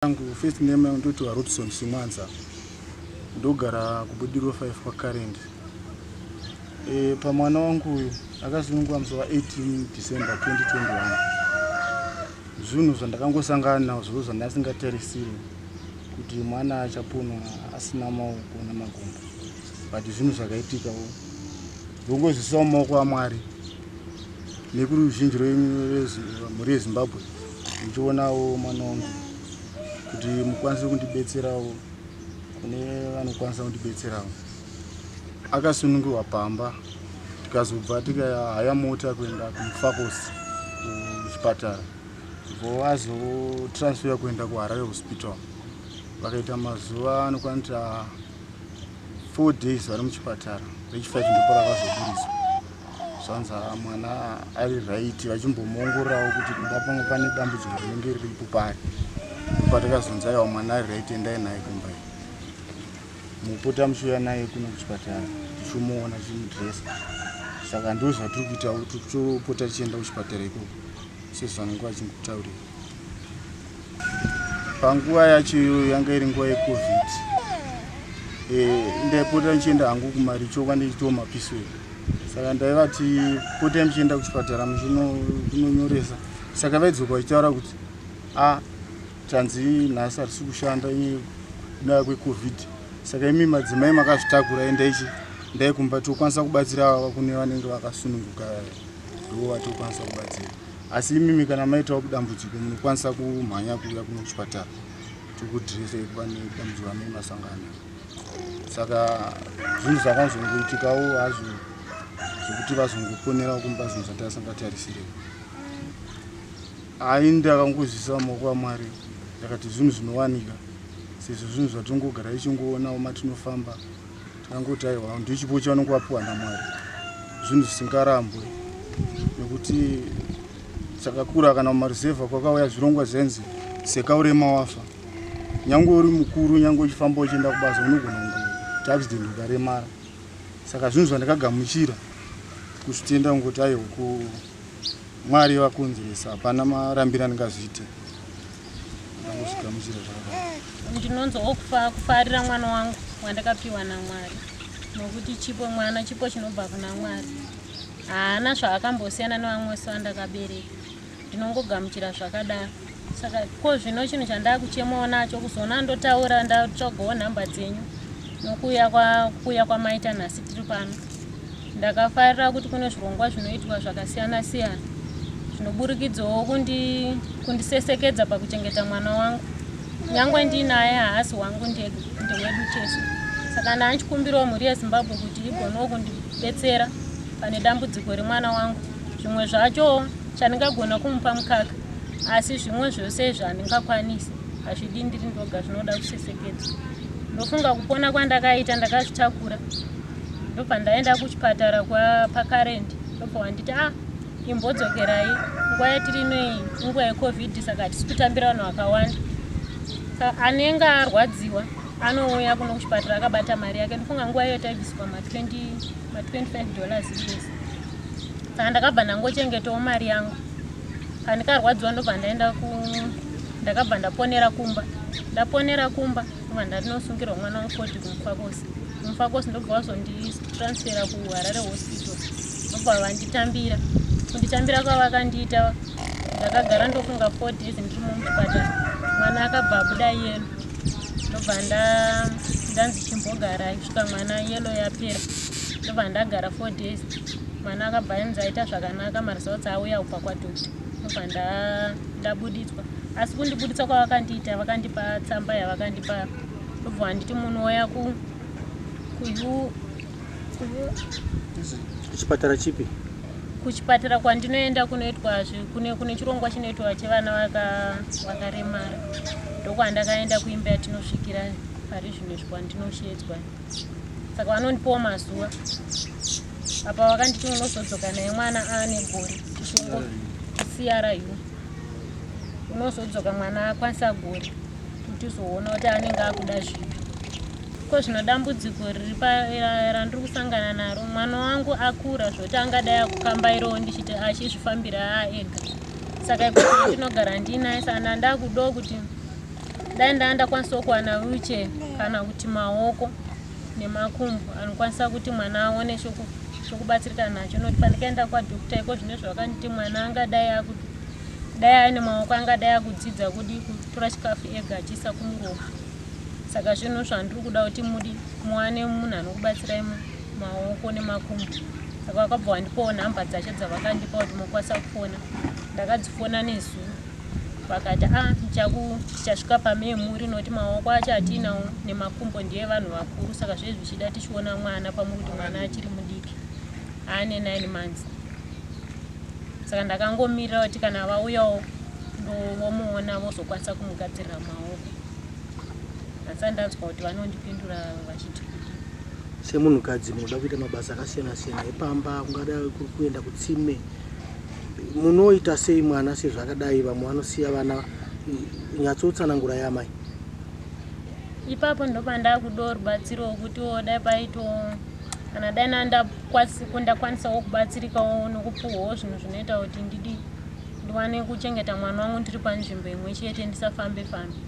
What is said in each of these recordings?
Yangu first name yangu ndoti Rodson Simwanza. Ndogara kuBudiriro 5 kwaCurrent. Eh pamwana wangu uyu akasunungwa musi wa 18 December 2021. Zvinhu zvandakangosangana nazvo zvandasingatarisiri kuti mwana achaponwa asina maoko namakumbo. But zvinhu zvakaitika. Ndongozvisiwa mumaoko aMwari nekuruzhinji rwemhuri yeZimbabwe ndichionawo mwana wangu kuti mukwanise kundibetserawo kune vanokwanisa kundibetserawo. Akasunungirwa pamba tikazobva tikahaya mota kuenda kumufakos kuchipatara vo azotransfera kuenda kuharare hospital vakaita mazuva anokwanita four days vari muchipatara vechifive ndipo rakazoburitswa zvanzi ah, mwana ari right vachimbomuongororawo kuti kuda pamwe pane dambudziko rinenge riripo pari patakazonzi aiwa mwana ari right endai naye kumba iyi mupota muchiuya naye kuno kuchipatara tichimuona chimudresa saka ndozvatiri kuita kuti topota tichienda kuchipatara ikoko sezvanenge vachingutaurira panguva yacho iyoyo yanga iri nguva yecovid eh, ndaipota ndichienda hangu kumaricho kwa ndichitiwo mapiswei saka ndaivati potai muchienda kuchipatara muchinonyoresa saka vaidzoka vachitaura kuti a tanzi nhasi harisi kushanda ndaa kwecovid saka imi madzimai makazvitakura endaichi ndaikumba tokwanisa kubatsira vava kune vanenge vakasununguka ndo vatokwanisa kubatsira asi imimi kana maitawo kudambudziko munokwanisa kumhanya kuuya kuno kuchipatara tikudrese pane dambudziko amai masangano saka zvinhu zvakanzongoitikawo hazvo zvekuti vazongoponerawo kumba zvinhu zvatasingatarisire ai ndakangozvisa maoko amwari ndakati zvinhu zvinowanika sezvo zvinhu zvatongogara ichingoonawo matinofamba Tinangoti aiwa ndochipo chavanenge vapiwa naMwari zvinhu zvisingarambwe nekuti chakakura kana mumaruzevha kwakauya zvirongwa zvenzi seka urema wafa nyange uri mukuru nyange uchifamba uchienda kubasa unogona kunge accident ukaremara saka zvinhu zvandakagamuchira kuzvitenda kungoti aiwa ku mwari vakonzeresa hapana marambiro andingazviite ndinonzwa kufarira mwana wangu wandakapiwa namwari nokuti chipo mwana chipo chinobva kuna mwari haana zvaakambosiyana nevamwe wese vandakabereka ndinongogamuchira zvakadaro saka ko zvino chinhu chandaakuchemawo nacho kuzoona ndotaura ndatsvagawo nhamba dzenyu nokuuya kwakuuya kwamaita nhasi tiri pano Ndakafarira kuti kune zvirongwa zvinoitwa zvakasiyana siyana zvinoburikidzawo kundi kundisesekedza pakuchengeta mwana wangu nyangwe ndiinaye haasi wangu ndega ndewedu tese saka ndanchikumbirawo mhuri yezimbabwe kuti igonewo kundibetsera pane dambudziko remwana wangu zvimwe zvacho chandingagona kumupa mukaka asi zvimwe zvose izvi handingakwanisi hazvidi ndiri ndoga zvinoda kusesekedza ndofunga kupona kwandakaita ndakazvitakura ndobva ndaenda kuchipatara kwapakarend ndobva wanditi a ah, imbodzokerai nguva yatiri inoyi inguva yecovid saka hatisi kutambira vanhu vakawanda anenge arwadziwa anouya kuno kuchipatara akabata mari yake ndifunga nguva iyo taibviswa ma25 dollars yes saka ndakabva ndangochengetawo mari yangu kandikarwadziwa ndobva ndaenda ndakabva ndaponera kumba ndaponera kumba Kuma ndarinosungirwa mwana wekoti kumufakosi. Kumufakosi ndobva wazonditransfera kuHarare hospital. Ndobva vanditambira. Kunditambira kwavakandiita ndakagara ndofunga four days ndiri mumuchipatara. Mwana akabva abuda yelo. Ndobva ndanzi chimbogara kusvika mwana yelo yapera. Ndobva ndagara four days. Mwana akabva anzi aita zvakanaka maresults auya kubva kwadoctor. Ndobva ndabuditswa. asi kundibuditsa kwavakandiita vakandipa tsamba yavakandipa ndobva handiti munhu oya ku kuchipatara chipi kuchipatara kwandinoenda kunoitwa kune kune chirongwa chinoitwa chevana vakaremara ndokwandakaenda kuimba yatinosvikira pari zvino izvi kwandinoshedzwa saka vanondipawo mazuva apa vakanditi unozodzoka naye mwana aane gore chisongo cryu unozodzoka mwana akwanisa gori kuti uzoona kuti anenge akuda zvipi ko zvino dambudziko riri randiri kusangana naro mwana wangu akura zvoti angadai akukambairawo ndichiti achizvifambira aa ega saka ikuti ndinogara ndiinaye sana ndakudawo kuti dai ndaa ndakwanisawo kuwana wiche kana kuti maoko nemakumbo anokwanisa kuti mwana aone chokubatsirika nacho nokuti pandikaenda kwadokta iko zvine zvavakanditi mwana angadai akuti dai aine maoko angadai akudzidza kudi kutora chikafu ega achiisa kumuromo saka zvinhu zvandiri kuda kuti mudi muwane munhu anokubatsirai maoko nemakumbo saka vakabva vandipawo nhamba dzacho dzavakandipa kuti mokwanisa kufona ndakadzifona nezuro vakati a ah, tichasvika pamemuri nokuti maoko acho atiinawo nemakumbo ndiye vanhu vakuru saka zvezvi zvichida tichiona mwana pamwe kuti mwana achiri mudiki aane nine months saka ndakangomirira kuti kana vauyawo vomuona vozokwanisa kumugadzirira maoko asi ndanzwa kuti vanondipindura vachiti semunhukadzi munoda kuita mabasa akasiyana siyana epamba kungada kuenda kutsime munoita sei mwana sezvakadai vamwe vanosiya vana nyatsoutsanangurai amai ipapo ndopandakudoo rubatsiro wokuti wo dai paito kana dai nandakwanisawo kubatsirikawo nokupuhwawo zvinhu zvinoita kuti ndidi ndiwane kuchengeta mwana wangu ndiri panzvimbo imwe chete ndisafambe fambe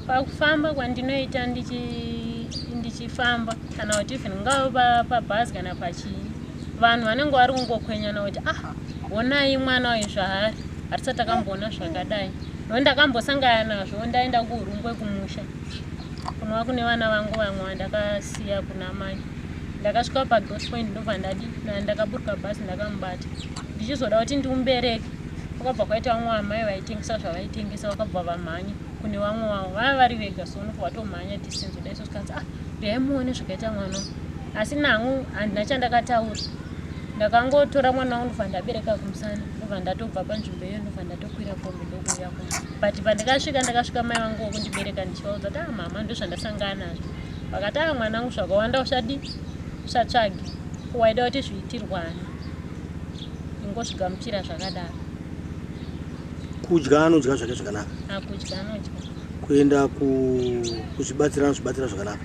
pakufamba kwandinoita ndichifamba kana kuti even ngava pabhazi kana pachii vanhu vanenge vari kungokwenyana kuti ah honai mwana uyu zvaari hatisati takamboona zvakadai no ndakambosangana nazvo ndaenda kuhurungwe kumusha kunova kune vana vangu vamwe vandakasiya kuna mai ndakasvika padot point ndobva ndadi ndakaburuka bhasi ndakamubata ndichizoda kuti ndimubereke kwakabva kwaita vamwe vamai vaitengesa zvavaitengesa vakabva vamhanya kune vamwe vavo vava vari vega so nobva vatomhanya distance udaisoskanzi ah ndaimuone zvakaita mwana asi nangu handina chandakataura ndakangotora mwana wangu ndobva ndabereka kumusana ndobva ndatobva panzvimbo iyo ndobva ndatokwira kombi ndokuuya ku but pandikasvika ndakasvika mai vangu wokundibereka ndichivaudza kuti a ah, mama ndozvandasangana nazvo vakati a ah, mwana wangu zvakawanda usadi usatsvage waida kuti zviitirwani ingozvigamuchira zvakadaro kudya anodya zvake zvakanaka akudya anodya kuenda kuzvibatsira anozvibatsira zvakanaka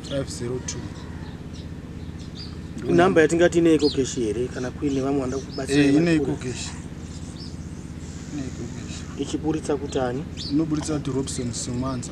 Number yatingati ine iko cash here kana kuine vamwe vanoda kubatsira eh, ine iko cash ine iko cash ichiburitsa kutani inoburitsa kuti Robson Simwanza